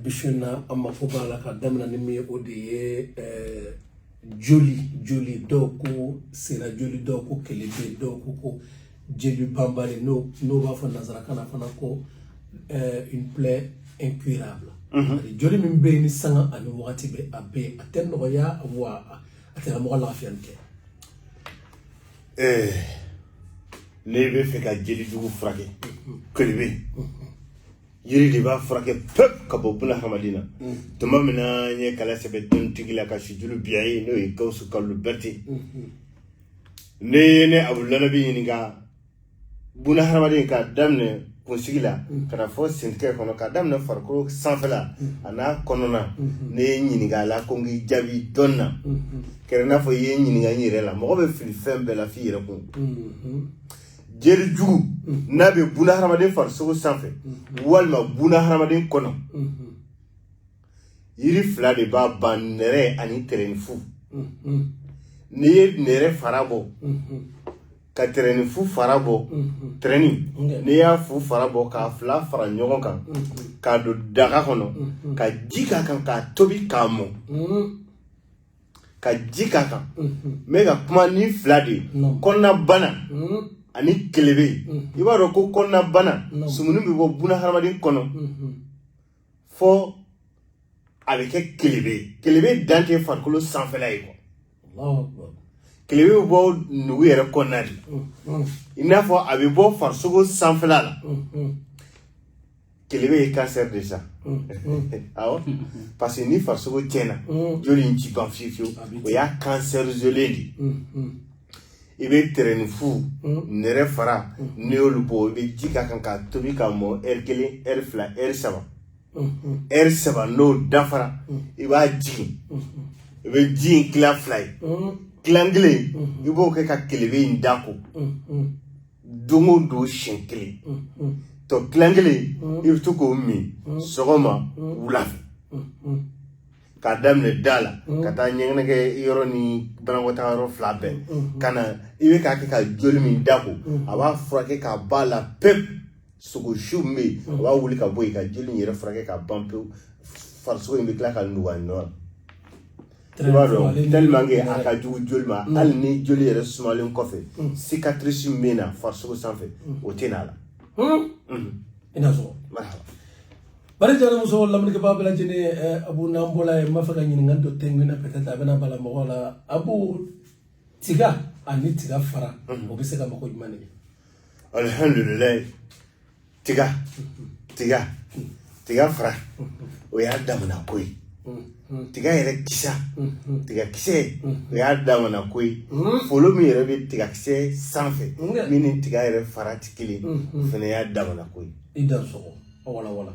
bi su in na an mako b'a la ka daminɛ ni min ye o de ye joli joli dɔw ko sera joli dɔw ko kelebe dɔw ko ko jeli banbali n'u b'a fɔ nansarakan na fana ko une plaie incurable joli min bɛ yen ni sanga ani wagati bɛɛ a bɛ yen a tɛ nɔgɔya wa a tɛna mɔgɔ lafiya kɛ n'i b'a fɛ ka jeli jugu furakɛ kelebe yiri de b'a furakɛ pewu ka bɔ buna hadamaden na tuma min na n ye kalan sɛbɛ dɔnnitigi la ka sujulu biya ye n'o ye gawusu kalu bɛrite n'i ye ne abudulayi ɲininka buna hadamaden k'a daminɛ kunsigi la ka na fo sentɛgɛ kɔnɔ k'a daminɛ farikolo sanfɛla an'a kɔnɔna n'i ye n ɲininka a la ko n k'i jaabi dɔnni na kɛra i n'a fɔ i ye n ɲininka n yɛrɛ la mɔgɔ bɛ fili fɛn bɛɛ la f'i yɛrɛ kun jeli jugu n'a bɛ buna hadamaden farisogo sanfɛ walima buna hadamaden kɔnɔ yiri fila de b'a ban nɛrɛ ani tɛrɛnifu n'i ye nɛrɛ fara bɔ ka tɛrɛnifu fara bɔ tɛrɛni n'i y'a fu fara bɔ k'a fila fara ɲɔgɔn kan k'a don daga kɔnɔ ka ji k'a kan k'a tobi k'a mɔ ka ji k'a kan n bɛ ka kuma nin fila de ye kɔnɔnabana ani kelebe i b'a dɔn ko kɔnɔnabana sumuni bɛ bɔ buna hadamaden kɔnɔ fo a bɛ kɛ kelebe ye kelebe dan tɛ farikolo sanfɛla ye koyi kelebe bɛ bɔ nugu yɛrɛ kɔnɔna de i n'a fɔ a bɛ bɔ farisogo sanfɛla la kelebe ye kansɛri de sa awɔ parce que ni farisogo tiɲɛna joli in tɛ ban fiyewu fiyewu o y'a kansɛri jɔlen de i bɛ tɛrɛnifu nɛrɛ fara n'i y'olu bɔ i bɛ ji k'a kan k'a tobi k'a mɔ ɛri kelen ɛri fila ɛri saba ɛri saba n'o dafara i b'a jigin i bɛ ji in tila fila ye tilan kelen i b'o kɛ ka kelebe in da ko don o don siɲɛ kelen tɔ tilan kelen i bɛ to k'o min sɔgɔma wula fɛ k'a daminɛ da la ka taa ɲɛgɛnɛkɛ yɔrɔ ni banakɔtaa yɔrɔ fila bɛɛ kan n'i bɛ k'a kɛ ka joli min da ko a b'a furakɛ k'a b'a la pewu sogo su min bɛ yen a b'a wuli ka bɔ yen ka joli in yɛrɛ furakɛ ka ban pewu farisogo in bɛ tila ka nugu a nɔ la i b'a dɔn tellement que a ka jugu joli ma mm. hali ni joli yɛrɛ sumalen kɔfɛ mm. cicatrice min bɛ na farisogo sanfɛ mm. o tɛ na a la i n'a fɔ bari jara muso lamɛnnikɛbaa bɛɛ lajɛlen ye eh, abu n'an bɔla yen n b'a fɛ ka ɲininkali dɔ tɛngu na peut-être a bɛna bala mɔgɔw la abu tiga ani tiga fara o bɛ se ka mago jumɛn de ɲɛ alhamdulilayi tiga tiga tiga fara o y'a damana ko ye tiga yɛrɛ kisa tiga kisɛ o y'a damana ko ye folo min yɛrɛ bɛ tiga kisɛ sanfɛ min ni tiga yɛrɛ fara tɛ kelen o fana y'a damana ko ye i da sɔgɔ wala wala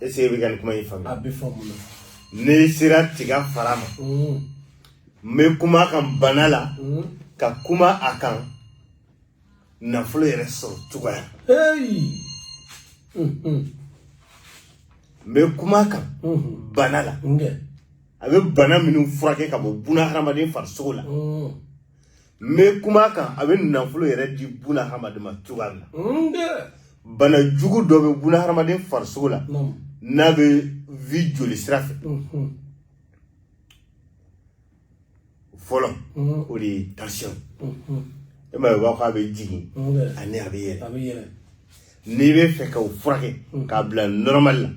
e sigi bɛ ka nin kuma in faamuya a bɛ faamu na n'i sera tiga fara ma n bɛ kuma a kan bana la ka kuma a kan nafolo yɛrɛ sɔrɔ cogoya n bɛ kuma a kan bana la a bɛ bana minnu furakɛ ka bɔ bunahadamaden farisogo la n bɛ kuma a kan a bɛ nafolo yɛrɛ di buna hadamaden ma cogoya min hmm, na bana jugu dɔ bɛ buna hadamaden farisogo la n'a bɛ vi joli sira fɛ hmm. fɔlɔ hmm. o de ye tension ye maa b'a fɔ k'a bɛ jigin ani a bɛ yɛlɛ n'i b'a fɛ ka o furakɛ k'a bila normal la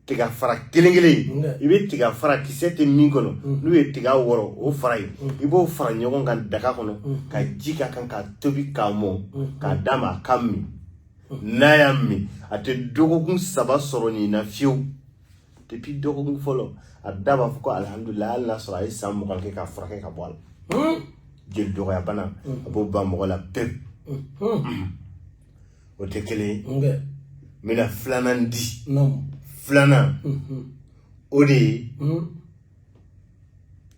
tiga fara kelen kelen i bɛ tiga fara kisɛ tɛ min kɔnɔ n'u ye tiga wɔrɔ o fara ye i b'o fara ɲɔgɔn kan daga kɔnɔ ka ji k'a kan k'a tobi k'a mɔ k'a d'a ma a k'a min n'a y'a min a tɛ dɔgɔkun saba sɔrɔ nin na fiyewu depuis dɔgɔkun fɔlɔ a da b'a fɔ ko alihamudulila hali n'a sɔrɔ a ye san mugan kɛ k'a furakɛ ka bɔ a la jeli dɔgɔya bana a b'o ban mɔgɔ la pewu o tɛ kelen ye n bɛna filanan di filanan mhm. o de ye mhm.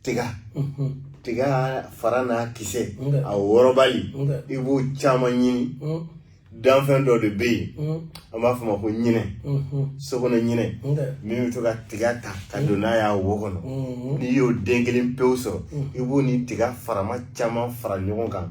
tiga mhm. tiga fara n'a kisɛ a wɔrɔbali i b'o caman ɲini danfɛn dɔ de bɛ yen an b'a fɔ ma ko ɲinɛ sokɔnɔ ɲinɛ min bɛ to ka tiga ta ka don n'a y'a wo kɔnɔ n'i y'o den kelen pewu sɔrɔ i b'o ni tiga farama caman fara ɲɔgɔn kan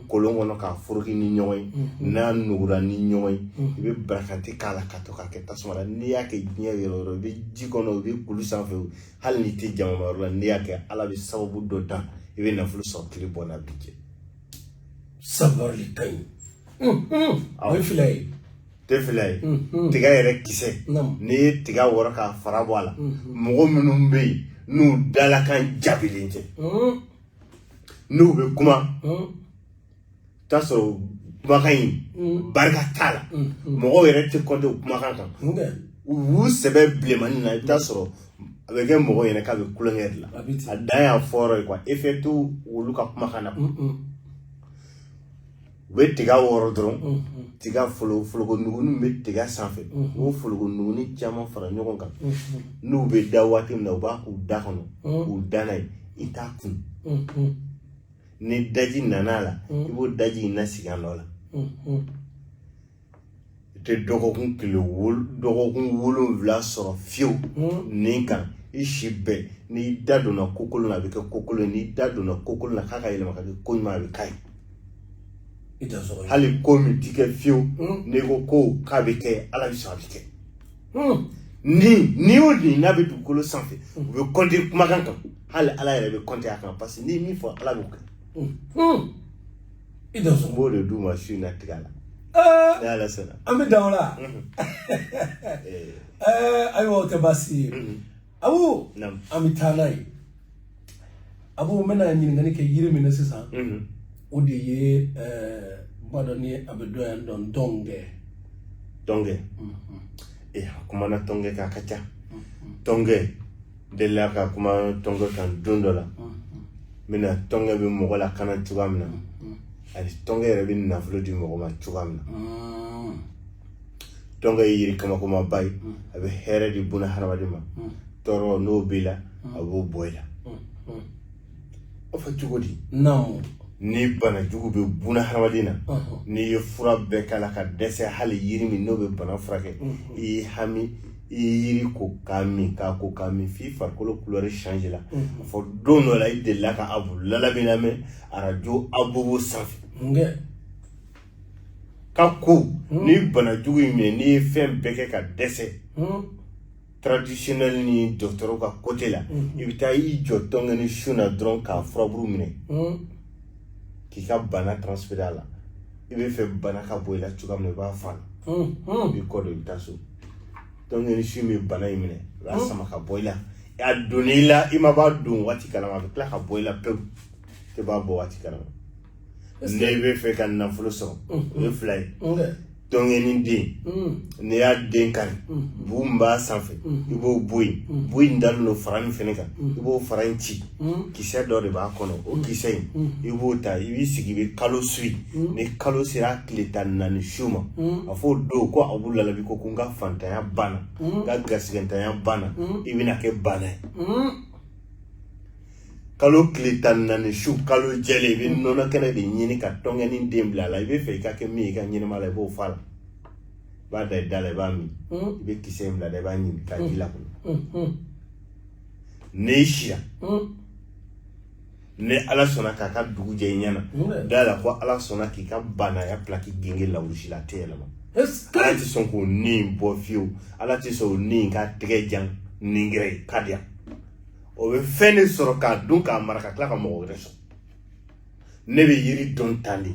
kolon kɔnɔ k'a foroki ni ɲɔgɔn ye n'a nugura ni ɲɔgɔn ye i bɛ barakante k'a la ka to k'a kɛ tasuma la n'i y'a kɛ diɲɛ yɔrɔ o yɔrɔ i bɛ ji kɔnɔ i bɛ kulu sanfɛ hali n'i tɛ jama yɔrɔ la n'i y'a kɛ ala bɛ sababu dɔ dan i bɛ nafolo sɔrɔ tile bɔ n'a bin cɛ sababu de ka ɲi o ye fila ye tɛ fila ye tiga yɛrɛ kisɛ n'i ye tiga wɔrɔ k'a fara bɔ a la mɔgɔ minnu bɛ yen n'u dalakan jaabilen tɛ n'u bɛ kuma t'a sɔrɔ kumakan in barika t'a la mɔgɔw yɛrɛ tɛ kɔnte u kumakan kan u b'u sɛbɛ bilenmani na i bɛ t'a sɔrɔ a bɛ kɛ mɔgɔw ɲɛ na k'a bɛ tulonkɛ de la a dan y'a fɔra ye kuwa effet t'olu ka kumakan na u bɛ tiga wɔrɔ dɔrɔn tiga folo folokonugunin bɛ tiga sanfɛ u b'o folokonugunin caman fara ɲɔgɔn kan n'u bɛ da waati min na u b'a k'u da kɔnɔ k'u da n'a ye i t'a kun ni daji nana a la i b'o daji in lasigi a nɔ la i tɛ dɔgɔkun tile wol dɔgɔkun wolonwula sɔrɔ fiyewu nin kan i si bɛɛ n'i da donna ko kolon na a bɛ kɛ ko kolon ye n'i da donna ko kolon na k'a ka yɛlɛma ka kɛ ko ɲuman a bɛ k'a ye i tɛ sɔrɔ hali ko min ti kɛ fiyewu n'i ko ko k'a bɛ kɛ ala bɛ sɔn a bɛ kɛ ni ni o ni n'a bɛ dugukolo sanfɛ u bɛ kɔnte kumakan kan hali ala yɛrɛ bɛ kɔnte a kan parce que n'i ye min fɔ ala b'o kɛ i da sɔn b'o de d'u ma su in na tiga la ni ala sɔnna an bɛ dan o la ayiwa o tɛ baasi ye abu an bɛ taa n'a ye abu n bɛna ɲininkali kɛ yiri min na sisan o de ye i b'a dɔn ni a bɛ dɔn yan dɔn tɔnkɛ tɔnkɛ ee a kumana tɔnkɛ kan a ka ca tɔnkɛ delila ka kuma tɔnkɛ kan don dɔ la min na tɔnkɛ bɛ mɔgɔ lakana cogoya min na ani tɔnkɛ yɛrɛ bɛ nafolo di mɔgɔ ma cogoya min na tɔnkɛ ye yiri kabakomaba ye a bɛ hɛrɛ di buna hadamaden ma tɔɔrɔ n'o b'i la a b'o bɔ i la O fɔ cogo di naamu ni bana jugu bɛ buna hadamaden na n'i ye fura bɛɛ k'a la ka dɛsɛ hali yiri min n'o bɛ bana furakɛ i y'i hami i ye yiri ko k'a min k'a ko k'a min f'i farikolo kulɛri change la a fɔ don dɔ la i delila ka abu lalabi lamɛn arajo abobo sanfɛ k'a ko ni bana jugu y'i minɛ n'i ye fɛn bɛɛ kɛ ka dɛsɛ traditionnel ni dɔgɔtɔrɔ ka kote la mm. i bɛ taa i jɔ tɔnkɛni sun na dɔrɔn k'a furaburu minɛ mm. k'i ka bana transfere a la i bɛ fɛ bana ka bɔ i la cogoya min na i b'a fɔ mm, i b'i kɔ don i bɛ taa so tɔnkɛni sun bɛ bana in minɛ i b'a sama ka bɔ i la a donn'i la i ma b'a don waati kalama a bɛ tila ka bɔ i la pewu i tɛ b'a bɔ waati kalama n'i bɛ fɛ ka nafolo sɔrɔ o ye fila ye tɔnkɛni den n'i y'a den kari bu min b'a sanfɛ i b'o bɔ yen bu in dalen don fara min fana kan i b'o fara in ci kisɛ dɔ de b'a kɔnɔ o kisɛ in i b'o ta i b'i sigi i bɛ kalo suyi ni kalo sera tile tan naani su ma a fɔ o don ko abu lalabi ko ko n ka fantanya banna n ka garisɛgɛntanya banna i bɛna kɛ baana ye kalo tile tan ni naani su kalo jɛlen i bɛ nɔnɔ kɛnɛ de ɲini ka tɔnkɛni den bila a la i b'a fɛ i ka kɛ min ye i ka ɲɛnamaya la i b'o fɔ a la i b'a da i da la i b'a min i bɛ kisɛ in bila da i b'a ɲimi k'a ji lakunun n'i sira ni ala sɔnna k'a ka dugu jɛ i ɲɛ na da la ko ala sɔnna k'i ka baanaya pilaki gengen lawurusi la a tɛ yɛlɛma ala tɛ sɔn k'o ni bɔ fiyewu ala tɛ sɔn o ni ka tɛgɛ jan ningɛrɛ ye ka diya o bɛ fɛn de sɔrɔ k'a dun k'a mara ka tila ka mɔgɔ wɛrɛ sɔrɔ ne bɛ yiri dɔn tan de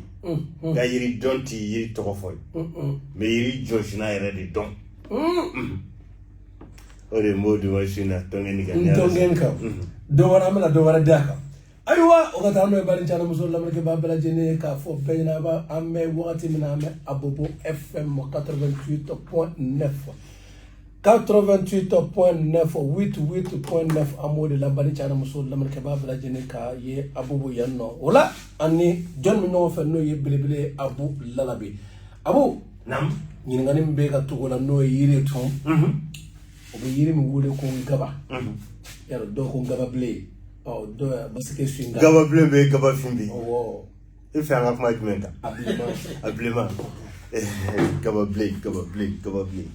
nka yiri dɔn tɛ yiri tɔgɔ fɔ ye n bɛ yiri jɔsina yɛrɛ de dɔn o de ye n b'o di aw ma su na tɔnkɛni kan tɔnkɛni kan dɔ wɛrɛ an bɛna dɔ wɛrɛ d'a kan ayiwa o ka taa n'o ye baden cɛ n'a muso lamɛnnikɛbaa bɛɛ lajɛlen k'a fɔ bɛɛ ɲɛna a b'a an bɛ wagati min na an bɛ abobo fm 88.9 88.9 88.9 an b'o de la baden cɛ n'a muso lamɛnnikɛbaa bɛɛ lajɛlen ka ye abobo yan nɔ o la ani jɔn min ɲɔgɔn fɛ n'o ye belebele abu lalabe abu ɲininkali min bɛ ka tugu la n'o ye yiri tun o bɛ yiri min wele ko gaba yɛrɛ dɔw ko gababilen ɔ dɔw parce que su gababilen bɛ gabafin bɛ i fɛ an ka kuma jumɛn kan a bilenman a bilenman gababilen gababilen gababilen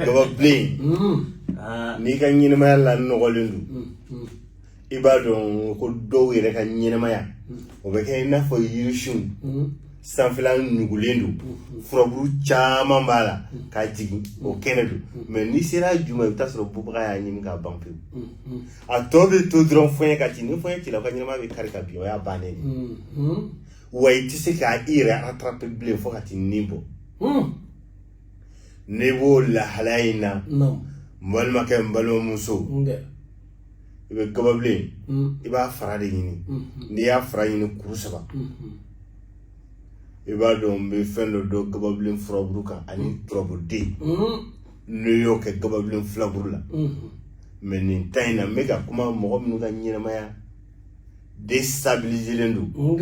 gababilen n'i ka ɲɛnamaya lanɔgɔlen don i b'a dɔn ko dɔw yɛrɛ ka ɲɛnamaya o bɛ kɛ i n'a fɔ yirisun sanfɛla nugulen don furaburu caman b'a la k'a jigin o kɛnɛ don mais n'i sera ju ma i bɛ t'a sɔrɔ bubaga y'a ɲimi k'a ban pewu a tɔ bɛ to dɔrɔn fɔɲɛ ka ci ni fɔɲɛ cila o ka ɲɛnamaya bɛ kari ka bin o y'a bannen wa i tɛ se k'a i yɛrɛ rattraper bilen fo ka t'i ni bɔ n'i b'o lahalaya in na n balimakɛ n balimamuso i bɛ gababilen i b'a fara de ɲini n'i y'a fara ɲini kuru saba i b'a dɔn n bɛ fɛn dɔ dɔn gababilen furaburu kan ani turabuden n'o y'o kɛ gababilen filaburu la mais nin temps in na n bɛ ka kuma mɔgɔ minnu ka ɲɛnamaya destabiliselen don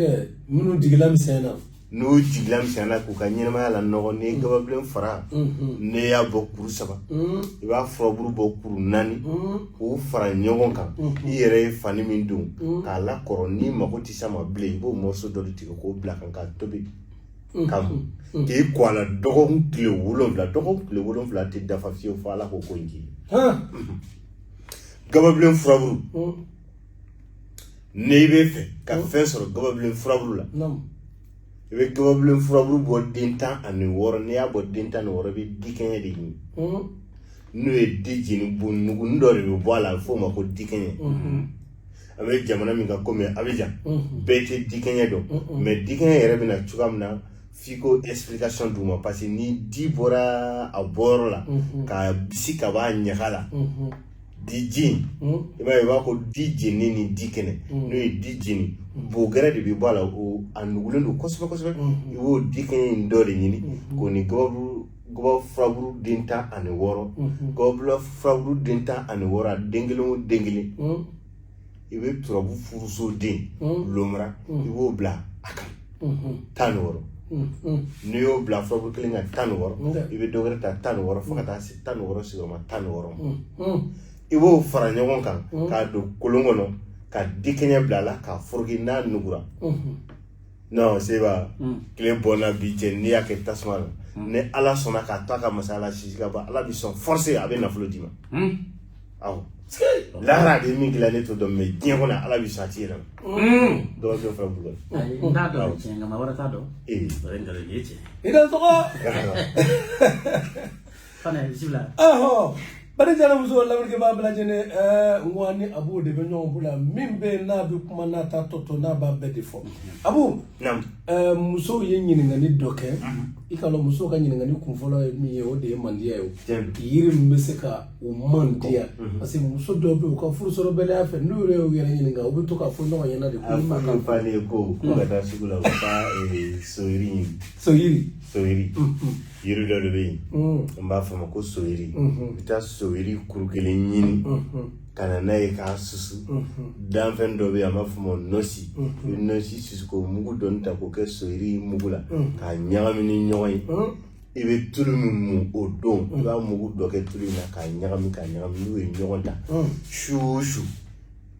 minnu jigila misɛnna n'u jigila misɛnyala k'u ka ɲɛnamaya lanɔgɔ n'i ye gababilen fara n'i y'a bɔ kuru saba i b'a furaburu bɔ kuru naani k'u fara ɲɔgɔn kan i yɛrɛ ye fani min don k'a lakɔrɔ n'i mago tɛ s'a ma bilen i b'o morceau dɔ de tigɛ k'o bila a kan k'a tobi k'a min k'i ko a la dɔgɔkun tile wolonwula dɔgɔkun tile wolonwula tɛ dafa fiyewu fo ala k'o ko in k'i ye gababilen furaburu n'i bɛ fɛ ka fɛn sɔrɔ gababilen furaburu la i bɛ gababilen furaburu bɔ den tan ani wɔɔrɔ n'i y'a bɔ den tan ni wɔɔrɔ i bɛ dikɛɲɛ de ɲini n'o ye di jeni bo nugunin dɔ de bɛ bɔ a la a bɛ f'o ma ko dikɛɲɛ a bɛ jamana min kan komi Abijan bɛɛ tɛ dikɛɲɛ dɔn mɛ dikɛɲɛ yɛrɛ bɛ na cogoya min na f'i ko explication d'u ma parce que ni di bɔra a bɔyɔrɔ la k'a bisi ka b'a ɲaga la diji i b'a ye i b'a ko di jenni ni di kɛnɛ n'o ye di jeni bogɛrɛ de bɛ bɔ a la o a nugulen don kosɛbɛ kosɛbɛ i b'o dikɛɲɛ in dɔ de ɲini k'o ni gabakuru gaba furaburu den tan ani wɔɔrɔ gaba furaburu den tan ani wɔɔrɔ a den kelen o den kelen i bɛ turabu furuso den lomara i b'o bila a kan tan ni wɔɔrɔ n'i y'o bila furaburu kelen kan tan ni wɔɔrɔ i bɛ dɔ wɛrɛ ta tan ni wɔɔrɔ fo ka taa se tan ni wɔɔrɔ sigiyɔrɔma tan ni wɔɔrɔ ma i b'o fara ɲɔgɔn kan k'a don kolon kɔnɔ ka dikɛɲɛ bila a la k'a foroki n'a nugura non seba tile bɔnna bi cɛ n'i y'a kɛ tasuma la ni ala sɔnna k'a to a ka masaya la sisi ka ban ala bɛ sɔn forcé a bɛ nafolo d'i ma awɔ lahara de min dilan ne t'o dɔn mɛ diɲɛ kɔnɔ ala bɛ sɔn a d'i yɛrɛ ma dɔw bɛ fɛn bugɔ n t'a dɔn tiɲɛ nka maa wɛrɛ t'a dɔn o ye nkalon ye tiɲɛ i da tɔgɔ fana bisimila ɔhɔ bari jara muso lamɛnnikɛbaa bɛɛ lajɛlen ɛɛ n ko aw ni abu de bɛ ɲɔgɔn bolo yan min bɛ yen n'a bɛ kuma n'a ta tɔ to n'a b'a bɛɛ de fɔ abu Eh, musow ye ɲininkali dɔ kɛ i k'a dɔn musow ka ɲininkali kun fɔlɔ ye min ye o de ye mandiya ye yiri min bɛ se ka u mandiya mhm. parce que muso dɔw bɛ u ka furusɔrɔbaliya fɛ n'u yɛrɛ y'u yɛrɛ ɲininka u bɛ to k'a fɔ ɲɔgɔn ɲɛna de ko fa kan fa ne ko ko ka taa sugu la u ka eh, soyiri ɲini soyiri soyiri mm, mm. yiri dɔ de bɛ yen mm. n b'a fɔ a ma ko soyiri i bɛ taa soyiri kuru kelen ɲini ka na n'a ye k'a susu danfɛn dɔ bɛ yen an b'a fɔ o ma nɔnsi i bɛ nɔnsi susu k'o mugu dɔɔni ta k'o kɛ soyiri mugu la k'a ɲagami ni ɲɔgɔn ye i bɛ tulu min mun o don i b'a mugu dɔ kɛ tulu in na k'a ɲagami k'a ɲagami n'u ye ɲɔgɔn ta su o su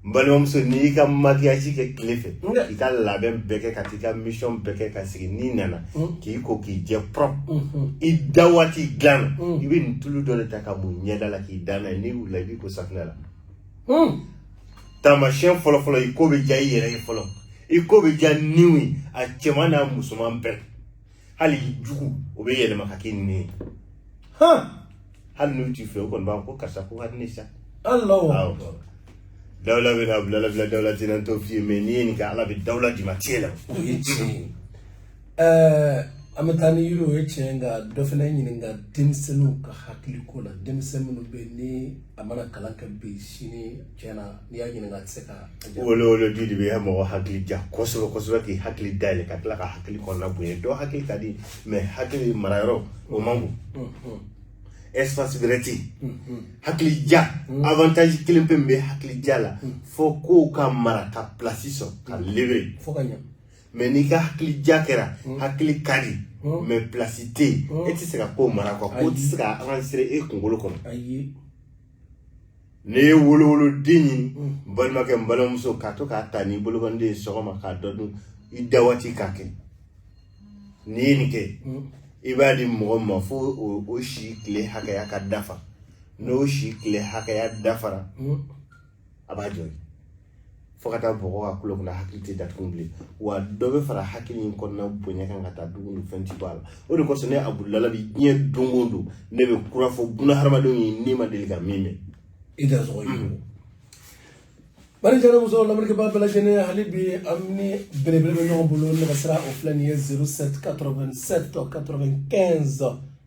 n balimamuso n'i y'i ka makiyaji kɛ tile fɛ i ka labɛn bɛɛ kɛ ka t'i ka misiyɔn bɛɛ kɛ ka sigi n'i nana Mm. k'i ko k'i jɛ propre mm-hmm. i da waati dilan na mm. i bɛ nin tulu dɔ de ta k'a mun ɲɛda la k'i da n'a ye n'i wulila i b'i ko safinɛ la mm. taamasiyɛn fɔlɔfɔlɔ i ko bɛ diya i yɛrɛ ye fɔlɔ i ko bɛ diya niw ye a cɛman n'a musoman bɛɛ hali i jugu o bɛ yɛlɛma ka k'i ɲin ye hali n'u t'i fɛ u kɔni b'a fɔ ko karisa ko ka di ne sa Allahu Awɔ. akbar. dawula bɛ na bilala bila dawula tɛ na n t'o f'i ye mɛ n'i ye nin kɛ ala bɛ dawula d'i ma tiɲɛ la O ye tiɲɛ ye. Ɛɛ, an bɛ taa ni yiri o ye tiɲɛ ye nka dɔ fana ɲininka denmisɛnninw ka hakiliko la denmisɛn minnu bɛ yen ni a mana kalan kɛ bi sini tiɲɛna n'i y'a ɲininka a tɛ se ka wolowoloden de bɛ mɔgɔ hakili diya kosɛbɛ kosɛbɛ k'i hakili dayɛlɛ ka tila ka hakili kɔnɔna bonya dɔ hakili ka di mais hakili marayɔrɔ o man bon mm, mm. espace wɛrɛ tɛ yen hakili diya avantage kelen pe min bɛ hakili diya la fo kow ka mara ka place sɔrɔ ka libérer fo ka ɲɛ mais n'i ka hakili diya kɛra hakili ka di mais place tɛ yen e tɛ se ka ko mara quoi ko tɛ se ka avancer e kunkolo kɔnɔ ayi n'i ye wolowoloden ɲini n balimakɛ n balimamuso k'a to k'a ta n'i bolokɔniden ye sɔgɔma k'a dɔ dun i da waati k'a kɛ n'i ye nin kɛ i b'a di mɔgɔ min ma fo o si tile hakɛya ka dafa n'o si tile hakɛya dafara a b'a jɔ fo ka taa bɔgɔ a kunkolo kɔnɔ hakili tɛ datugu bilen wa dɔ bɛ fara hakili in kɔnɔna bonya kan ka taa don o don fɛn ti bɔ a la o de kosɔn ne abudulala bi diɲɛ don o don ne bɛ kura fɔ buna hadamadenw ye ne ma deli ka min mɛn i da sɔgɔ ye bari jara muso lamɛnnikɛbaa bɛɛ lajɛlen hali bi an ni belebele bɛ ɲɔgɔn bolo nɛgɛsira o filɛ nin ye 07 87 95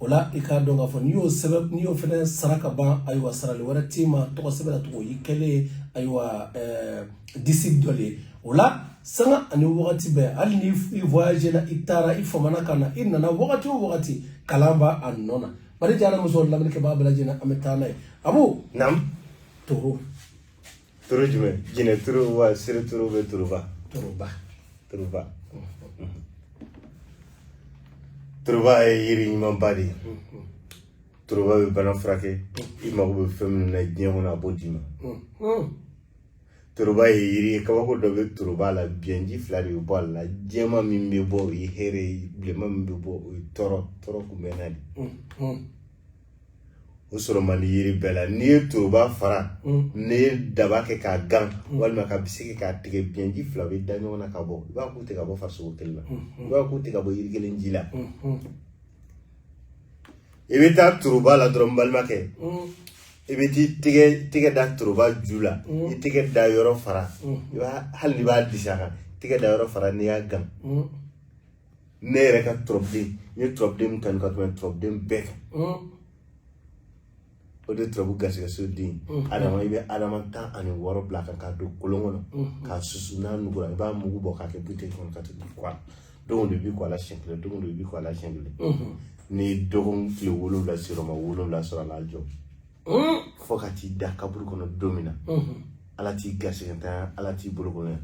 o la i k'a dɔn k'a fɔ n'i y'o sɛbɛn n'i y'o fana sara ka ban ayiwa sarali wɛrɛ t'i ma tɔgɔ sɛbɛn na tugun o y'i kelen ayiwa eh, disi dɔ de ye o la sanga ani wagati bɛɛ hali ni i voyage la i taara i famana ka na i nana wagati o wagati kalan b'a nɔ na bari jara muso lamɛnnikɛbaa bɛɛ lajɛlen an bɛ taa n'a ye abu naam toro toro jumɛn jinɛ toro wa siri toro bɛ toroba toroba toroba toroba ye yiri ɲumanba de ye toroba bɛ bana furakɛ i mago bɛ fɛn minnu na diɲɛ kɔnɔ a b'o d'i ma toroba ye yiri ye kabako dɔ bɛ toroba la biɲɛji fila de bɛ bɔ a la jɛma min bɛ bɔ o ye hɛrɛ ye bilenma min bɛ bɔ o ye tɔɔrɔ kunbɛnna de o sɔrɔ man di yiri bɛɛ la n'i ye toroba fara n'i ye daba kɛ k'a gan walima ka bese kɛ k'a tigɛ biɲɛji fila bɛ da ɲɔgɔn na ka bɔ i b'a k'u tɛ ka bɔ farisogo kelen na i b'a k'u tɛ ka bɔ yiri kelen ji la i bɛ taa toroba la dɔrɔn balimakɛ i bɛ t'i tɛgɛ da toroba ju la i tɛgɛ da yɔrɔ fara i b'a hali n'i b'a disi a kan tɛgɛ da yɔrɔ fara n'i y'a gan ne yɛrɛ ka turabuden n ye turabuden min kanu ka tɛmɛ turabuden bɛɛ kan o de turabu garisɛgɛso den adama i bɛ adama tan ani wɔɔrɔ bila a kan k'a don kolon kɔnɔ k'a susu n'a nugura i b'a mugu bɔ k'a kɛ buteli kɔnɔ k'a tugu quoi don o don i b'i ko a la siɲɛ kelen don o don i b'i ko a la siɲɛ kelen n'i ye dɔgɔkun tile wolonwula sɔgɔma wolonwula sɔrɔ a la jɔ fo ka t'i da kaburu kɔnɔ don min na ala t'i garisɛgɛ ntanya ala t'i bolokolonya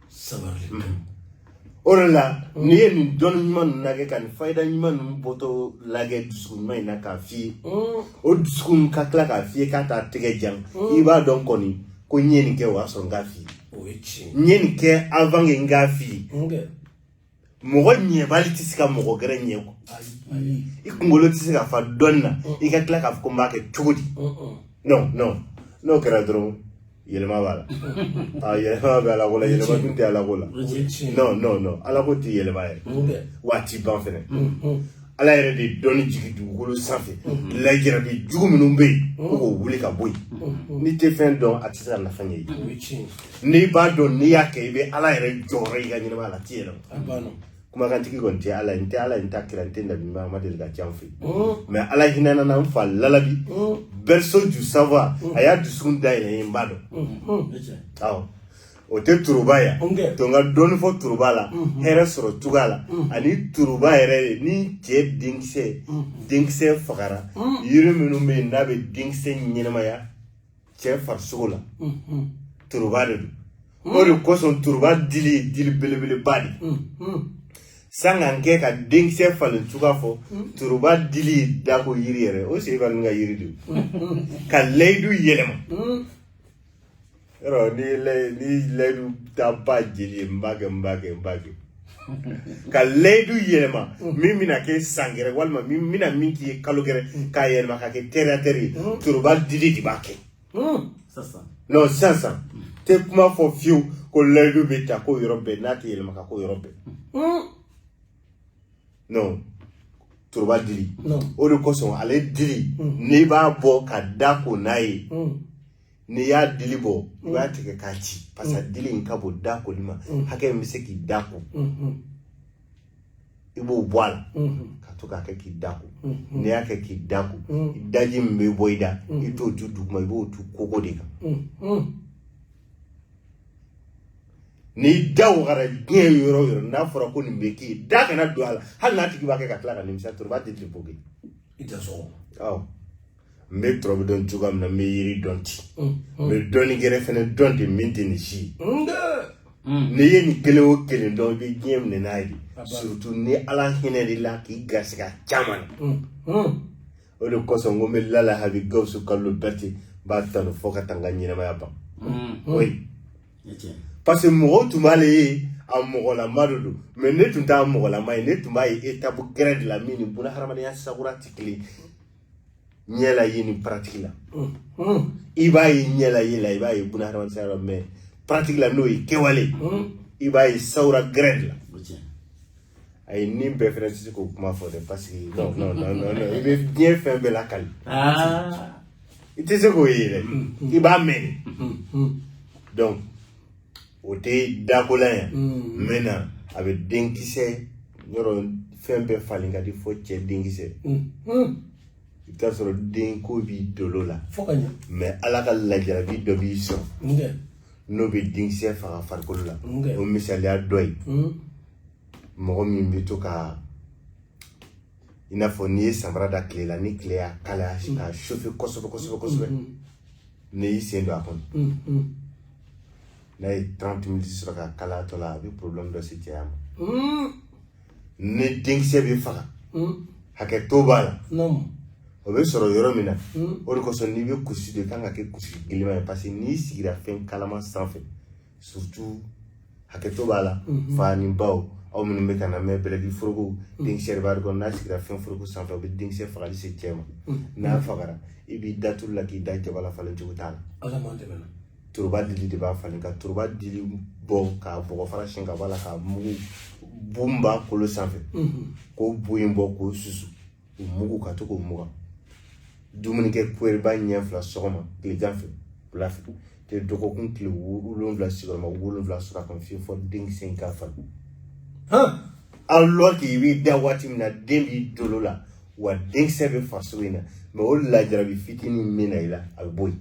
sabali o de la n'i ye nin dɔnni ɲuman ninnu lagɛ ka nin fayida ɲuman ninnu bɔtɔ lagɛ dusukun ɲuman in na k'a f'i ye o dusukun ka tila k'a f'i ye k'a t'a tɛgɛ jan i b'a dɔn kɔni ko n ye nin kɛ o y'a sɔrɔ n k'a f'i ye n ye nin kɛ avant que n k'a f'i ye mɔgɔ ɲɛbali tɛ se ka mɔgɔ gɛrɛ ɲɛ ko i kunkolo tɛ se ka fa dɔnni na i ka tila k'a fɔ ko n b'a kɛ cogo di non non n'o kɛra dɔrɔn yɛlɛma b'a la a yɛlɛma bɛ ala ko la yɛlɛma tun tɛ ala ko la non non non ala ko tɛ yɛlɛma yɛrɛ wa a tɛ ban fɛnɛ ala yɛrɛ de dɔnni jigin dugukolo sanfɛ mhm. lajarabi jugu minnu bɛ yen mhm. ko k'o wuli ka bɔ yen mhm. n'i tɛ fɛn dɔn a tɛ se ka nafa ɲɛ i ye n'i b'a dɔn n'i y'a kɛ i bɛ ala yɛrɛ jɔyɔrɔ y'i ka ɲɛnamaya la a tɛ yɛlɛma kumakantigi kɔni tɛ ala ye n tɛ ala ye n tɛ kira n tɛ nabi ɲuman ma deli ka ca n fɛ mais ala hinɛna n na n fa lalabi berceau du savoir a y'a dusukun dayɛlɛ n ye n b'a dɔn awɔ o tɛ turuba yan to n ka dɔɔni fɔ turuba la mhm. hɛrɛ sɔrɔ cogoya la mhm. ani turuba yɛrɛ ni cɛ denkisɛ mhm. denkisɛ fagara yiri minnu bɛ yen n'a bɛ denkisɛ ɲɛnamaya cɛ farisogo la turuba de don o de kosɔn turuba dili ye dili belebeleba de sangan kɛ ka denkisɛ falen cogoya fɔ turuba dili ye dako yiri yɛrɛ o sigi ka nin ka yiri de ka layidu yɛlɛma yɔrɔ ni lɛ ni layidu ta ba jeli ye n b'a kɛ n b'a kɛ n b'a kɛ ka layidu yɛlɛma min bɛna kɛ san gɛrɛ walima min bɛna min k'i ye kalo gɛrɛ k'a yɛlɛma ka kɛ tɛrɛtɛrɛ ye toroba dili de b'a kɛ non sisan tɛ kuma fɔ fiyewu ko layidu bɛ ta ko yɔrɔ bɛɛ n'a tɛ yɛlɛma ka ko yɔrɔ bɛɛ non toroba dili o de kosɔn ale dili n'i b'a bɔ ka da ko n'a ye n'i y'a dili bɔ i b'a mm. tigɛ k'a ci parce que dili in ka bon da koli ma mm. hakɛ min bɛ se k'i da ko mm-hmm. i b'o bɔ a la mm-hmm. ka to k'a kɛ k'i da ko mm-hmm. n'i y'a kɛ k'i da ko mm. daji min bɛ bɔ i da i t'o tu duguma i b'o tu kogo de kan n'i da wagara diɲɛ yɔrɔ o yɔrɔ n'a fɔra ko nin bɛ k'i ye da kana don a la hali n'a tigi b'a kɛ ka tila ka nimisa toroba tɛ tile i tɛ sɔgɔ n bɛ toroba dɔn cogoya min na n bɛ yiri dɔn ten n bɛ dɔnni gɛrɛ fɛnɛ dɔn ten min tɛ nin si ye n'i ye nin kelen o kelen dɔn i bɛ diɲɛ minɛ n'a ye surtout ni ala hinɛn'i la k'i garisigɛ caman na o de kosɔn ko n bɛ lalabi gawusu kalilu bɛrɛte n b'a tanu fo ka taa n ka ɲɛnamaya ban oui parce que mɔgɔw tun b'ale ye a mɔgɔlama de don mais ne tun t'a mɔgɔlama ye ne tun b'a ye étape gɛrɛ de la min ni bunahadamadenya sagura tɛ kelen ɲɛla ye ni pratique la i b'a ye ɲɛla ye la i b'a ye buna hadamadenya la mais pratique la n'o ye kɛwale i b'a ye sawura gwɛrɛ la a ye ni bɛɛ fɛnɛ tɛ se k'o kuma fɔ dɛ parce que non non non non non i bɛ diɲɛ fɛn bɛɛ lakali i tɛ se k'o ye dɛ i b'a mɛn de donc o tɛ dakola ye n bɛ na a bɛ denkisɛ yɔrɔ fɛn bɛɛ falen ka di fɔ cɛ denkisɛ i bɛ t'a sɔrɔ denko b'i dolo la mais ala ka lajarabi dɔ b'i sɔrɔ n'o bɛ denkisɛ faga farikolo la o misaliya dɔ ye mɔgɔ min bɛ to ka i n'a fɔ n'i ye samara da tile la ni tile y'a kalaya k'a chauffer kosɛbɛ kosɛbɛ kosɛbɛ n'i y'i sen don a kɔnɔ n'a ye 30 minutes sɔrɔ ka kalatɔ la a bɛ problème dɔ se cɛya ma ni denkisɛ bɛ faga hakɛto b'a la o bɛ sɔrɔ yɔrɔ min na o de kosɔn n'i bɛ kusi de kan ka kɛ kusi gɛlɛma ye parce que n'i sigira fɛn kalama sanfɛ surtout hakɛto b'a la mhm. fa ni baw aw minnu bɛ ka n lamɛn bɛlɛkili foroko mhm. denkisɛ de b'a kɔnɔ n'a sigira fɛn foroko sanfɛ o bɛ denkisɛ fagali se cɛ ma mhm. n'a fagara i b'i da tulu la k'i da jaba la falen cogo t'a la toroba dili de b'a falen ka toroba dili bɔ k'a bɔgɔ fara siɲɛ ka bɔ a la k'a mugu bu min b'a kolo sanfɛ k'o bu in bɔ k'o susu o mugu ka to k'o mugan dumuni kɛ kuyɛrɛba ɲɛ fila sɔgɔma tilegan fɛ wula fɛ tile dɔgɔkun tile wolonwula sigiyɔrɔma wolonwula sɔrɔ a kan fiye fɔ denkisɛ in ka falen alors que i b'i da waati min na den b'i dolo la wa denkisɛ bɛ farisogo in na mais o lajarabi fitinin min na i la a bɛ bɔ yen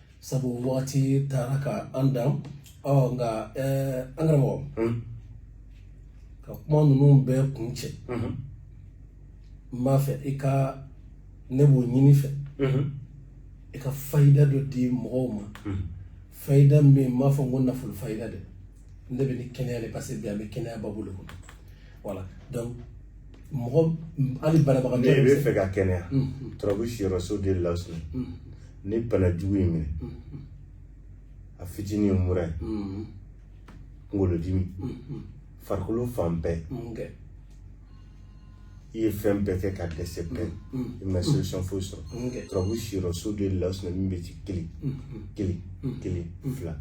sabu waati taara ka an dan ɔ nka an karamɔgɔ ka kuma ninnu bɛɛ kun cɛ n b'a fɛ i ka ne b'o ɲini i fɛ i ka fayida dɔ di mɔgɔw ma fayida min n m'a fɔ ko nafolo fayida dɛ ne bɛ ni kɛnɛya de parce que bi an bɛ kɛnɛya babu de kɔnɔ voilà donc mɔgɔ hali banabagatɔ n'i b'a fɛ ka kɛnɛya turabu siyɔrɔso de lawusinɛ ni bana jugu y'i minɛ a fitinin ye mura ye kunkolodimi farikolo fan bɛɛ i ye fɛn bɛɛ kɛ ka dɛsɛ bɛɛ i ma solution foyi sɔrɔ turabu siyɔrɔso de lawusinɛ min bɛ ci kelen kelen kelen fila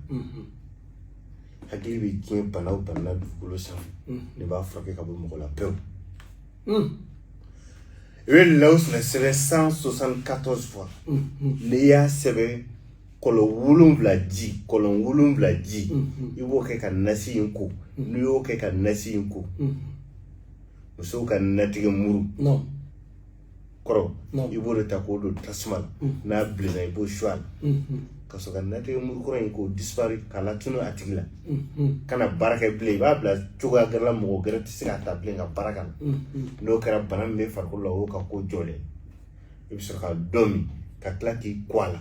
hakili bɛ diɲɛ bana o bana na dugukolo sanfɛ ne b'a furakɛ ka bɔ mɔgɔ la pewu i bɛ lawusinɛ sɛbɛn 174 fois n'i y'a sɛbɛn kɔlɔn wolonwula ji kɔlɔn wolonwula ji i b'o kɛ ka nasi in ko n'i y'o kɛ ka nasi in ko musow ka natigɛ muru kɔrɔ i b'o de ta k'o don tasuma la mm. n'a bilenna i b'o su a la mm-hmm. ka sɔrɔ ka natigɛ muru kɔrɔ in k'o disparu k'a latunu a tigi la mm-hmm. kana baara kɛ bilen i b'a bila cogoya gɛrɛ la mɔgɔ gɛrɛ tɛ se k'a ta bilen ka baara k'a la mm-hmm. n'o kɛra bana min bɛ farikolo la o y'o ka ko jɔlen i bɛ sɔrɔ ka dɔ min ka tila k'i ko a la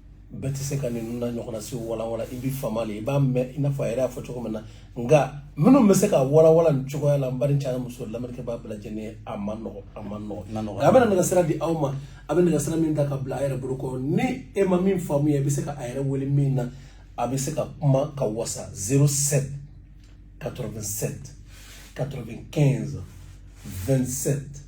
bɛɛ tɛ se ka ninnu na ɲɔgɔnna si walawala i bɛ fama de i b'a mɛn i n'a fɔ a yɛrɛ y'a fɔ cogo min na nka minnu bɛ se k'a walawala nin cogoya la n baden cɛ ani muso lamɛnnikɛbaa bɛɛ lajɛlen ye a man nɔgɔ a man nɔgɔ nka a bɛna nɛgɛsira di aw ma a bɛ nɛgɛsira min ta ka bila a yɛrɛ bolo kɔrɔ ni e ma min faamuya i bɛ se ka a yɛrɛ wele min na a bɛ se ka kuma ka wasa 07 87 95 27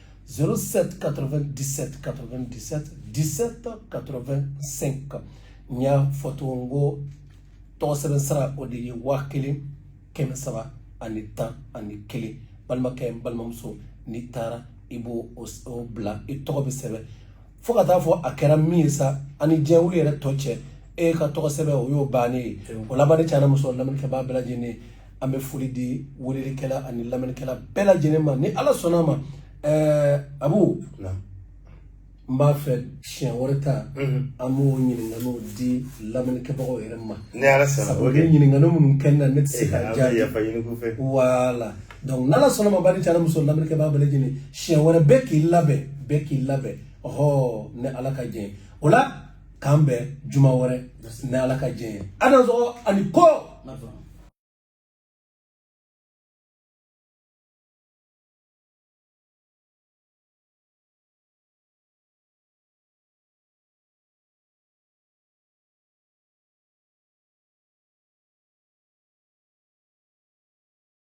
07 97 97 17 85 n y'a fɔ ten ko tɔgɔ sɛbɛn sara o de ye waa kelen kɛmɛ saba ani tan ani kelen balimakɛ n balimamuso n'i taara i b'o o bila i tɔgɔ bɛ sɛbɛn fo ka taa fɔ a kɛra min ye sani diɲɛ wuli yɛrɛ tɔ cɛ e ka tɔgɔ sɛbɛn o y'o bannen ye o la baden cɛ ani muso lamɛnnikɛbaa bɛɛ lajɛlen ye an bɛ foli di welelikɛla ani lamɛnnikɛla bɛɛ lajɛlen ma ni ala sɔnna ma ɛɛ abu n b'a fɛ siɲɛ wɛrɛ ta an b'o ɲininkaliw di lamɛnnikɛbagaw yɛrɛ ma sabu ɲininkali minnu kɛ na ne tɛ se k'a jaabi voilà donc n'ala sɔnna ma baden cɛ ani muso lamɛnnikɛbaa bɛɛ lajɛlen siɲɛ wɛrɛ bɛɛ k'i labɛn bɛɛ k'i labɛn ɔhɔ ni ala ka jɛn o la k'an bɛn juma wɛrɛ ni ala ka jɛn ye a dansɔgɔ a ni ko